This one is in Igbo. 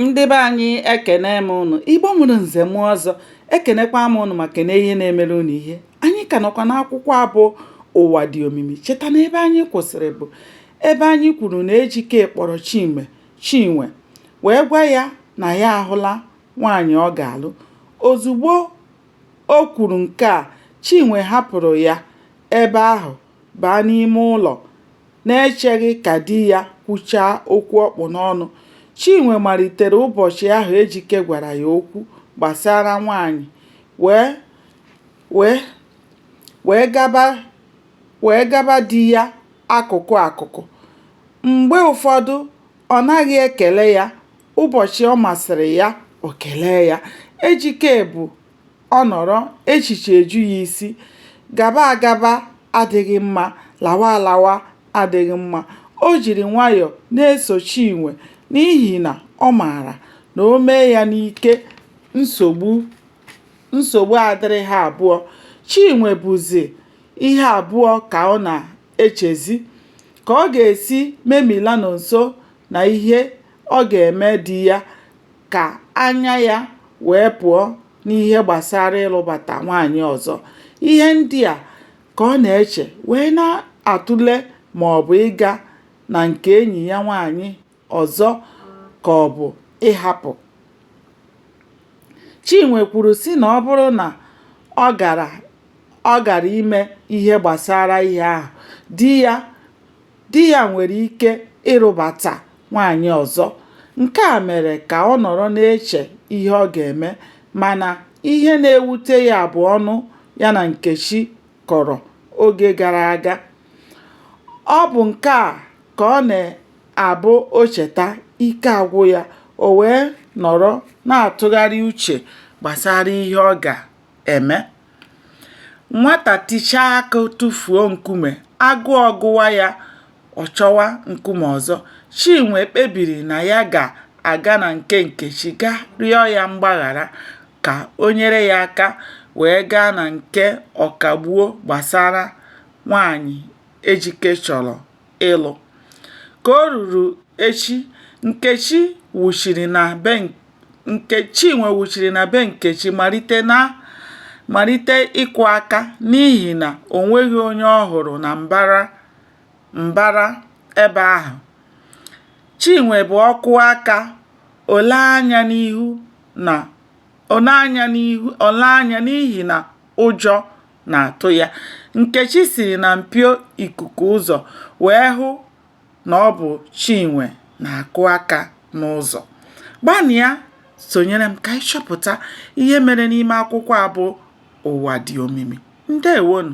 ndị be anyị ekene m ụnụ igbo mụrụ nze mụọ ọzọ ekenekwa m ụnụ ma kene ihe na-emere ụnụ ihe anyị ka nọkwa n'akwụkwọ a bụ ụwa dị omimi cheta na ebe anyị kwụsịrị bụ ebe anyị kwuru na ejike kpọrọ chinwe chinwe wee gwa ya na ya ahụla nwaanyị ọ ga-alụ ozugbo o kwuru nke a chinwe hapụrụ ya ebe ahụ baa n'ime ụlọ na-echeghị ka di ya kwuchaa okwu ọ kpụ n'ọnụ. Chinwe malitere ụbọchị ahụ Ejike gwara ya okwu gbasara nwaanyị wee wee wee gaba wee gaba di ya akụkụ akụkụ. Mgbe ụfọdụ, ọ naghị ekele ya, ụbọchị ọ masịrị ya, o kelee ya. Ejike bụ Ọ nọrọ, echiche eju ya isi. Gaba agaba adịghị mma, lawa alawa adịghị mma. O jiri nwayọọ na-eso Chinwe n'ihi na ọ maara na o mee ya n'ike, nsogbu nsogbu adịrị ha abụọ. Chinwe bụzi ihe abụọ ka ọ na-echezi. Ka ọ ga-esi memila Nonso na ihe ọ ga-eme di ya ka anya ya wee pụọ n'ihe gbasara ịlụbata nwaanyị ọzọ. Ihe ndị a ka ọ na-eche wee na-atụle ma ọ bụ ịga na nke enyi ya nwaanyị ọzọ ka ọ bụ ịhapụ. Chinwe kwuru sị na ọ bụrụ na ọ gara ọ gara ime ihe gbasara ihe ahụ, di ya di ya nwere ike ịlụbata nwaanyị ọzọ. Nke a mere ka ọ nọrọ na-eche ihe ọ ga-eme mana ihe na-ewute ya bụ ọnụ ya na Nkechi kọrọ oge gara aga. Ọ bụ nke a ka ọ na-abụ o cheta, ike agwụ ya, o wee nọrọ na-atụgharị uche gbasara ihe ọ ga-eme. Nwata tichaa akụ tụfuo nkume, agụọ gụwa ya, ọ chọwa nkume ọzọ. Chinwe kpebiri na ya ga-aga na nke Nkechi ga rịọ ya mgbaghara ka o nyere ya aka wee gaa na nke Ọkagbuo gbasara nwaanyị Ejike chọrọ. ịlụ. Ka o ruru echi, Nkechi wuchiri na be nke Chinwe wuchiri na be Nkechi malite na malite ịkụ aka n'ihi na o nweghị onye ọ hụrụ na mbara mbara ebe ahụ. Chinwe bụ ọ kụọ aka, o lee anya n'ihu na o lee anya n'ihu o lee anya n'ihi na ụjọ na-atụ ya. Nkechi siri na mpio ikuku ụzọ wee hụ na ọ bụ Chinwe na-akụ aka n'ụzọ. Gbanịa sonyere m ka anyị chọpụta ihe mere n'ime akwụkwọ a bụ Ụwa Dị Omimi. Ndewonu!